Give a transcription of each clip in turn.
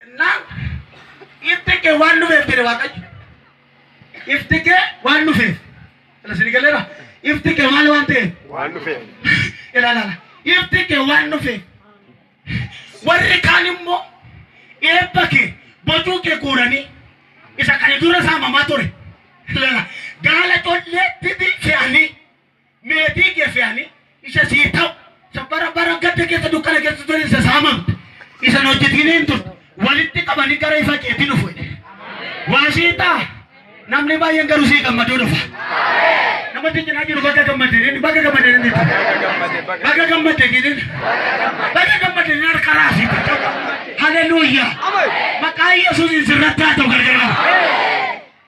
Jennaan ifti kee waan dhufeef jedhe Waaqayyo. Ifti kee waan dhufeef. Kana isin galeera. Ifti kee maal waan ta'eef. Waan dhufeef. Ilaalaala. Ifti kee waan dhufeef. Warri kaan immoo eebba kee bocuu kee guuranii isa kana dura saamamaa ture. Ilaala. Gaala colleetti fe'anii. Meetii kee fe'anii isa siif ta'u, isa bara bara gadda keessa dukkana keessa ture isa saamamte, isa hin hojjetineen turte walitti qabanii gara ifa keetii dhufu jedhe. Waa sii ta'a. Namni baay'een garuu sii gammaduu dhufa. Nama si cinaa jiru baga gammadde jedhin, baga gammadde jedhin jechuudha. Baga gammadde jedhin. Baga gammadde jedhin harka raasii jechuudha. Haleluuyaa. Maqaa Yesuusiin sirratti haa ta'u gargar qaba.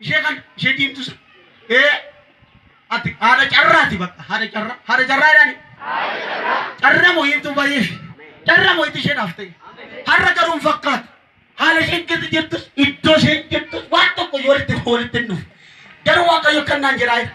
ishee kan ishee diimtu san ee ati haadha carraati bakka haadha carraa haadha carraa jedhani carra moo hiimtuu baay'ee ishee carra moo itti ishee dhaafte har'a garuu hin fakkaatu haala isheen keessa jirtus iddoo isheen jirtus waan tokko yoo walitti walitti hin dhufu garuu waaqayyo kan naan jedhaa jira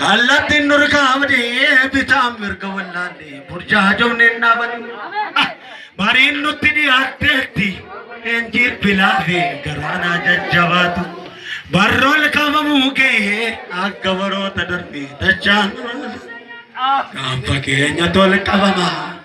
Kallattiin nurkaa badee bitaan mirga wallaalle burjaajofneen dhaabanii. Bariin nutti dhiyaatteetti eenjiir bilaafee garaanaa jajjabaatu. Barroon qabamuu gahee akka baroota darbee dachaan. Kan fakkeenya tol qabamaa.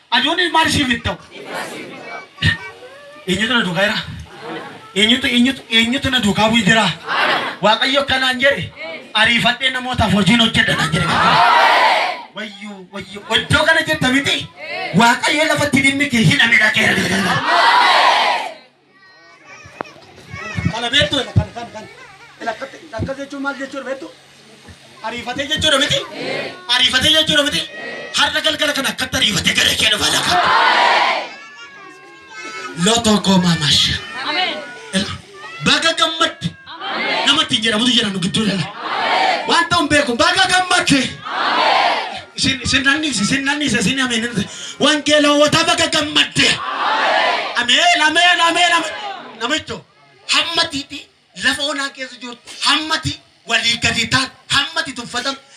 Aduun maal ishiif hin ta'u? Eenyutu na duukaa jira? Eenyutu eenyutu eenyutu na duukaa bu'ee jira? Waaqayyo kanaan jedhe ariifadhee namootaaf hojiin hojjedha naan jedhe. Wayyoo wayyoo iddoo kana jirta miti Waaqayyo lafatti dhimmi kee hidhamedha qeerroo. Kana beektu jedha kan kan kan. Lakkatti akkas jechuun maal jechuudha beektu? Ariifatee jechuudha miti? Ariifatee jechuudha miti? Har'a galgala kana akkatti ariifatee gara kee dhufa lafa. Lotoo koo maamasha. Baga gammadde. Nama ittiin jedhamutu jira nu gidduu lala. Waan ta'u hin beeku. Baga gammadde. Isin isin nanniise isin nanniise isin ameen. Wangeela hawwataa baga gammadde. Ameen ameen ameen ameen. Namicho hammatiiti lafa onaa keessa jirtu hammati walii gadi taatu hammati tuffatamtu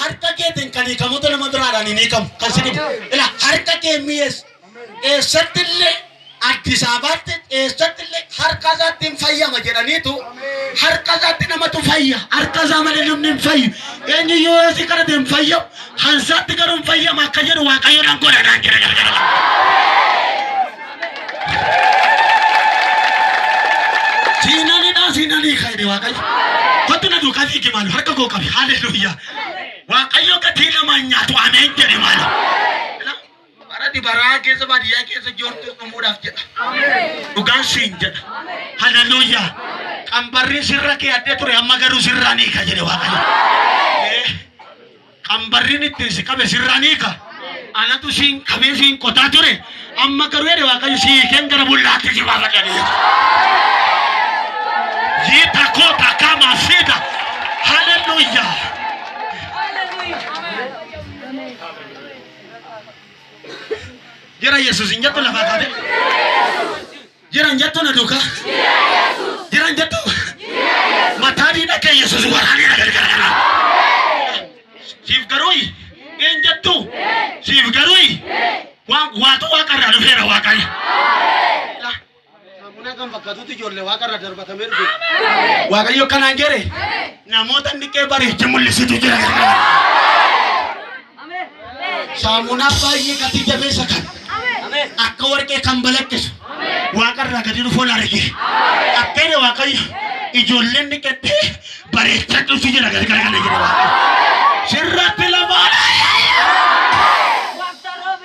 Harka keetiin kan hiikamutu nama biraadhaan hin hiikamu. Kan si dhibu. Ila harka kee mi'ees eessatti illee Addis Ababaatti eessatti illee harka isaatti hin fayyama jedhaniitu harka isaatti namatu fayya. Harka isaa malee namni hin fayyu. Eenyu yoo asii kadhate hin fayyamu. Hansaatti garuu hin fayyama akka jedhu Waaqayyoodhaan godhadhaan jedha. Siinanidhaa siinanii kaa'e waaqayyo. Kottu na duukaa fiigi maal harka koo qabi haaleluyyaa. Waaqayyo gatii lama hin nyaatu ameen jedhe maal. Bara dibaraa keessa baadiyyaa keessa joortu dhumuudhaaf jedha. Dhugaan siin jedha. Haaleluyyaa. Qambarri sirra kee addee ture amma garuu sirraa ni ka jedhe waaqayyo. Qambarrin ittiin si qabe sirraa ni hiika. Anatu siin qabee siin qotaa ture. Amma garuu jedhe Waaqayyo si hiikeen gara bullaatti si baafadha ni jedhe. Yiita koo takkaa maasiidha. Haleluuyaa. Jira Yesuus hin jettu lafaa kaatee. Jiran jettu na duuka. Jiran jettu. Mataa diina kee Yesuus waraanee na gargaara. Siif garuu een jettu. Siif garuu waan waatu waaqarraa dhufeera waaqayyo. Saamunaa kan fakkaatutti ijoollee waaqarraa darbatamee dhufe. Waaqayyo kanaan jedhe namoota inni qee bariichi mul'isitu jira. Saamunaa baay'ee gatii jabeessa kan akka warqee kan balaqqisu waaqarraa gadi dhufuun arge. Akkana waaqayyo ijoolleen dhiqattee bareechaa dhufu jira galgala kana jira. Sirratti lamaa.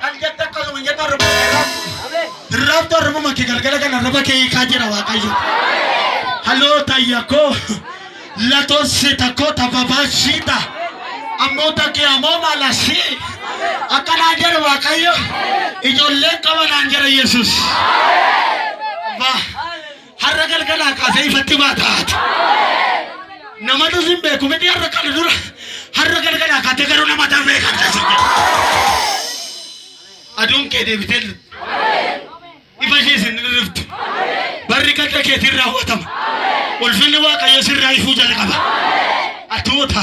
Kan jette akkasuma hin jette arraba kee irraabdu. Irraabdu arrabuma kee galgala kana arraba kee hiikaa jira Waaqayyo. Haloo tayya koo latoo sita koo tababaa siita. Ammoo takkee ammoo maala si. Akka naan jedhe Waaqayyo ijoolleen qaba naan jedhe Yesuus. Abbaa. Har'a galgalaa kaasee ifatti maa taatu. Namatu sin beeku miti har'a kana dura. Har'a galgalaa kaatee garuu nama ta'an beekamte sin jedhu. Aduun kee deebitee lixu. Ifa ishee sin dhirriftu. Barri gadda keetiin raawwatama. Ulfinni Waaqayyo sirraa ifuu jalqaba. Atuuta.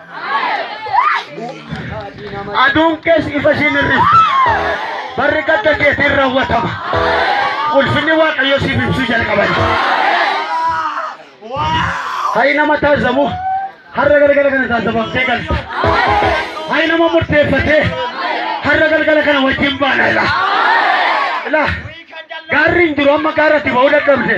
Aduun kees ifa siin hir'ifti. Barri gadda keetiin raawwatama. Ulfinni Waaqayyo siif ibsuu jalqaban. Hayi nama taasisamu har'a galgala kana taasifamtee galta. Hayi nama murteeffatee har'a galgala kana wajjin baana ila. Ila gaarri hin jiru amma gaarratti ba'uu dadhabde.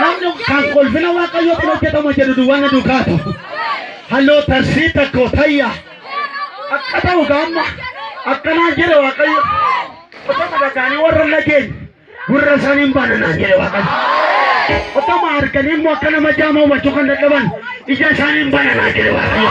Namni kan kolfina waaqayyootti hojjetama jedhu duwwaan na duukaa ta'u. Halloo tarsii takko tayya. Akka ta'u gaamma akkanaan jedhe waaqayyo. Otoo madaqaanii warra lageen gurra isaanii hin bananaan jedhe waaqayyo. Otoo ma arganii immoo akka nama jaamaa hubachuu kan dadhaban ija isaanii hin bananaan jedhe waaqayyo.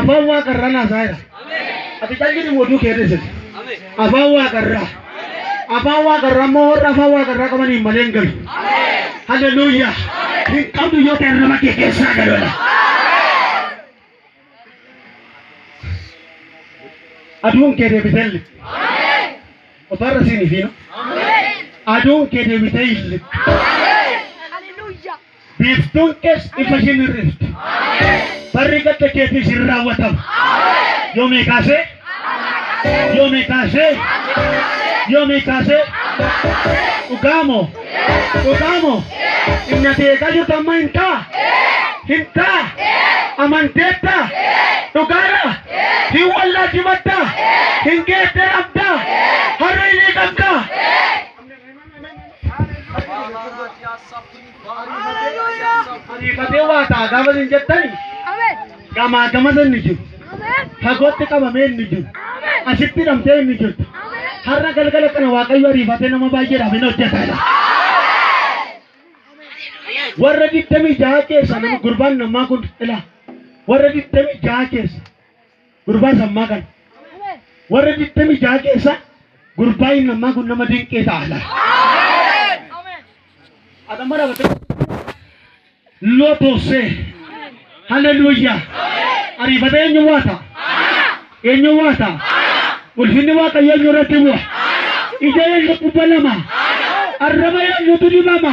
Afaan waaqarraa naasaayira. Ati calqini mootuu kee dhisite. Afaan waaqarraa. Afaan waaqarraa immoo warra afaan waaqarraa qaban hin malee hin galu. Haleluuyaa. Hin qabdu yoo ta'e nama kee keessaa galola. Aduun kee deebitee illi. Ofarra siin ifiina. Aduun kee deebitee illi. Biiftuun kees ifa isheen hir'iftu. Barri gadda keetiis hin raawwatamu. Yoomii kaasee? Yoomii kaasee? Yoomii kaasee? Dhugaa moo? Dhugaa moo? Inni ati eegaa jirtu amma hin ta'a? Hin ta'a? Amanteetta? Dhugaadha? Hin wallaalchifatta? Hin geettee qabda? Harree ni qabda? Ariifatee waa ta'a gaafa isin jettani gamaa gamasa inni jiru. Fagootti qabamee inni jiru. Asitti hidhamtee inni jirtu. Har'a galgala kana Waaqayyo ariifatee nama baay'eedhaaf hin hojjetedha. Warra digdamii jaha keessa nama gurbaan namaa kun ila. Warra digdamii jaha keessa. Gurbaan sammaa kan warra 26 keessa gurbaa inni ammaa kun nama dinqee ta'a laal. Adamma dhaabbatee lootoosee haleluuyaa ariifatee eenyu waata eenyu waata ulfinni waaqayyo eenyu irratti bu'a ija eenyu kubba lama arraba eenyutu dibama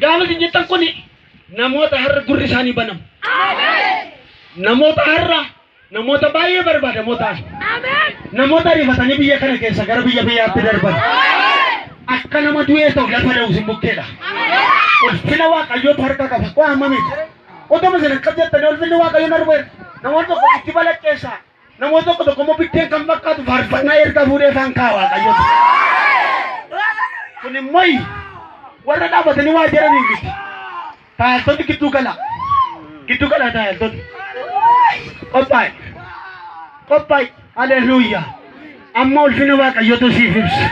Gaafa isin jettan kun namoota har'a gurri isaanii banamu. Namoota har'a namoota baay'ee barbaadamoo ta'an. Namoota ariifatanii biyya kana keessa gara biyya biyyaatti darban. Akka nama du'ee ta'u lafa da'u isin bukkeedha. Ulfina waaqayyootu harka qaba. Waa hammamiiti. Otoo isin akkas jettanii ulfinni waaqayyoon argeera. Namoonni tokko itti balaqqeessaa. Namoota tokko tokko immoo biddeen kan fakkaatu faarfannaa erga fuudhee faan kaa waaqayyo. Kun immoo warra dhaabatanii waa jedhaniif miti. Taayiltonni gidduu galaa. Gidduu galaa taayiltonni. Qophaa'e. Qophaa'e. Haleluuyaa. Amma ulfina waaqayyootu siif ibsu.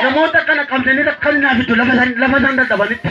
Namoota kana qabdanii rakkan naaf itti lafa isaan dadhabanitti.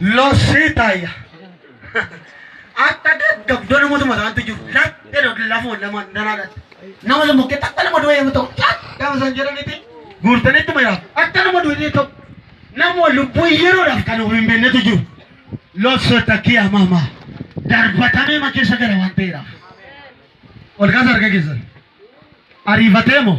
Lossee taayya. Akka gaggabdoo namoota mataatti jiru laphee dha lafoo lama danaa dhatte. Nama lama kee takka nama du'e yoo ta'u gaafa isaan jedhanitti guurtanitti mayaa akka nama du'e yoo ta'u nama lubbuu yeroodhaaf kan of hin beeknetu jiru. Lossee takkii amaamaa darbatamee ma keessa gara waan ta'eedhaaf. Ol kaasa harka keessan. Ariifatee moo?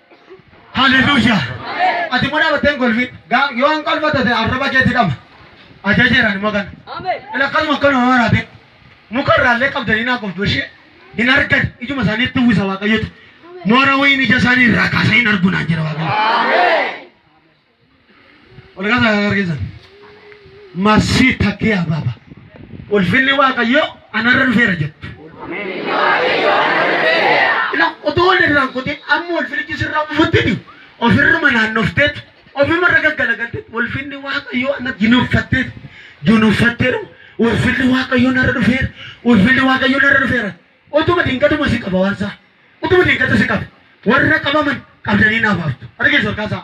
Haleluya. Ati immoo dhaabattee hin kolfin. Gaa yoo hin kolfa tate arraba keetii dhama. Ajajeeran immoo kana. Ila akkasuma akkana yoo waraate muka irraallee qabdanii naa qoftu ishee hin argan ijuma isaaniitti uwwisa waaqayyotu. Moora wayiin ija isaanii irraa kaasee hin argu naan jedha waaqayyo. Ol kaasaa kan argitan. Masii takkee abaaba. Ulfinni Waaqayyoo anarra dhufeera jettu. Ila utuu wal irraan kutin amma ulfinichi sirraa bufuttini ofirruma naannofteet ofirra irra gaggalagalteet ulfinni Waaqayyoo anatti jinuuffatteet jinuuffatteeru ulfinni Waaqayyoo narra dhufeera ulfinni Waaqayyoo narra dhufeera utuma dinqatuma si qaba waan isaa utuma dinqata si qaba warra qabaman qabdanii naaf haftu argeessu harkaa isaa.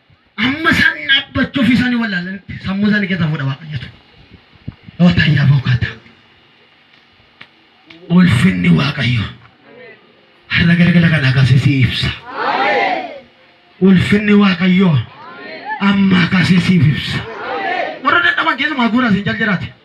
Amma isaan dhaabbachuu fi isaanii wallaalanitti sammuu isaanii keessa fuudha waaqayyotu. Dhootaa yaa bookaata. Ulfinni waaqayyo har'a galgala kana akkasii si ibsa. Ulfinni waaqayyo amma akkasii siif ibsa. Warra dadhaban keessumaa haguuraa siin jal jiraate.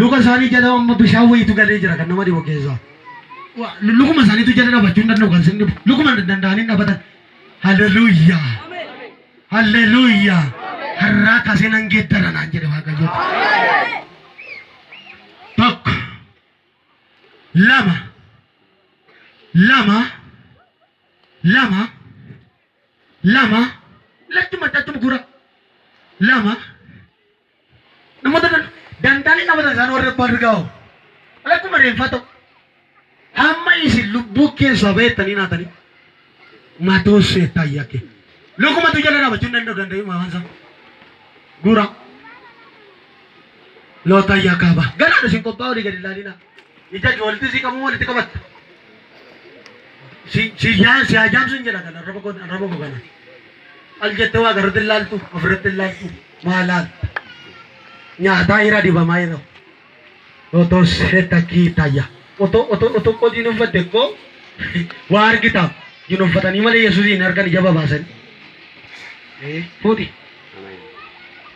Luka isaanii jala amma bishaan wayiitu galee jira kan nama dhibu keessaa. Wa- lu- Lukuma isaaniitu jala dhaabachuu hin danda'u kan isin dhibu. Lukuma hin danda'anii hin dhaabatan. Haleluuyaa. Haleluuyaa. Har'aa kaasee nan geeddara naan jedhe Waaqayyo. Tokko. Lama. Lama. Lama. Lama. Lachuma lachuma gura. Lama. Namoota dantaalee qabatan isaan warri abbaan rigaa hoo. Akkuma reenfaa ta'u. Hamma isin lubbuu keessaa baheettanii naatanii. Matuu seettaa yakke. Lukuma tu jala dhaabachuu hin danda'u danda'u maamaan isaa. Guuraa. Loota yakkaa ba'a. Garaadha isin qophaa'uu olii gadi ilaalinaa. Ija ijoolleetti si qabuu walitti qabatta. Si si yaa si haa jaamsu hin jedha kana arraba koo arraba koo kana. Al jettee waa garratti hin laaltu ofirratti hin laaltu maa laalta. Nyaataa irra dibamaa irra. Otoo seeta kii tayya. Otoo otoo otoo koo diin uffatte koo waa argitaaf diin uffatanii malee Yesuusiin argan ija babaasanii. Fuuti.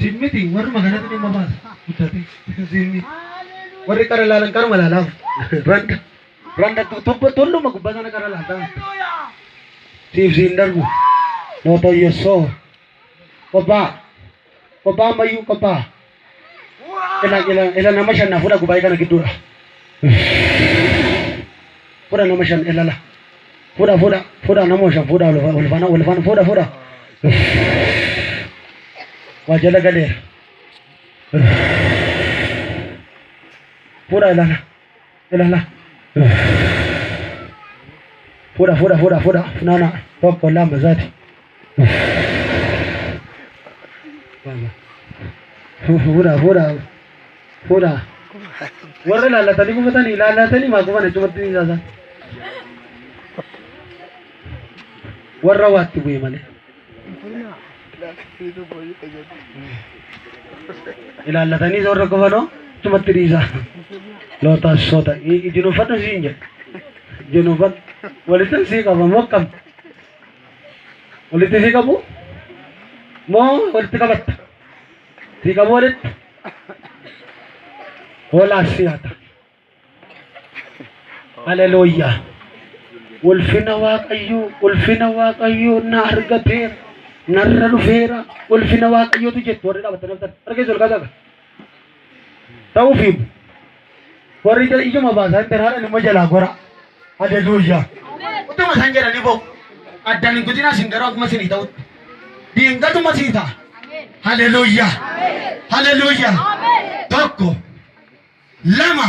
Sin miti warruma kanatu dhimma baasa guddatee sin miti warri qara laalan qaruma laalaaf randa randa tubba tulluma gubbaa sana qara laaltaa miti siif siin darbu noota yessoo qobbaa qobbaa ammayyuu qobbaa ila ila ila nama shan na fudha gubaa'ee kana gidduudha fudha nama shan ilala. Fudha fudha fudha namo shan fudha ulfana ulfana fudha fudha waa jala galeera fudha ilala ilala fudha fudha fudha fudha funana tokko lama zati Fuudhaa fuudhaa fuudhaa. Warra laallatanii gufatanii laallatanii maa gufan achumatti ni saasan. Warra waatti bu'e malee. Ilaallatanii warra gufanoo achumatti dhiisaa. Lootaas soota ijinoofadhu siin jedha. Ijinoofadhu walitti sii qaba mokkam. Walitti sii qabu moo walitti qabatta? Sii qabu walitti hoolaa sii hata. Haleluuyaa. Ulfina Waaqayyoo, ulfina Waaqayyoo na argateera, narra dhufeera, ulfina Waaqayyootu jettu warri dhaabattanii haftan. Harka keessan ol kaasaa. Ta'uu fiigu. Warri jala iyyuma baasaa intan haadha nima jalaa gora. Haleluuya. Utuma san jedhani boo. Addaan hin kutinaa sin garuu akkuma sinii ta'utti. Diingatuma sii ta'a. Haleluuya. Haleluuya. Tokko. Lama.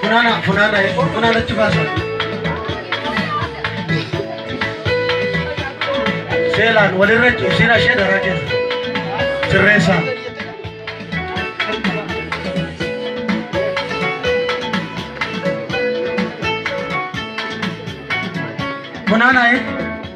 Funaana, funaana, funaana achi baasa. Seelaan walirra isin ashee daraa keessa. Sirreessaa. Funaana, eh?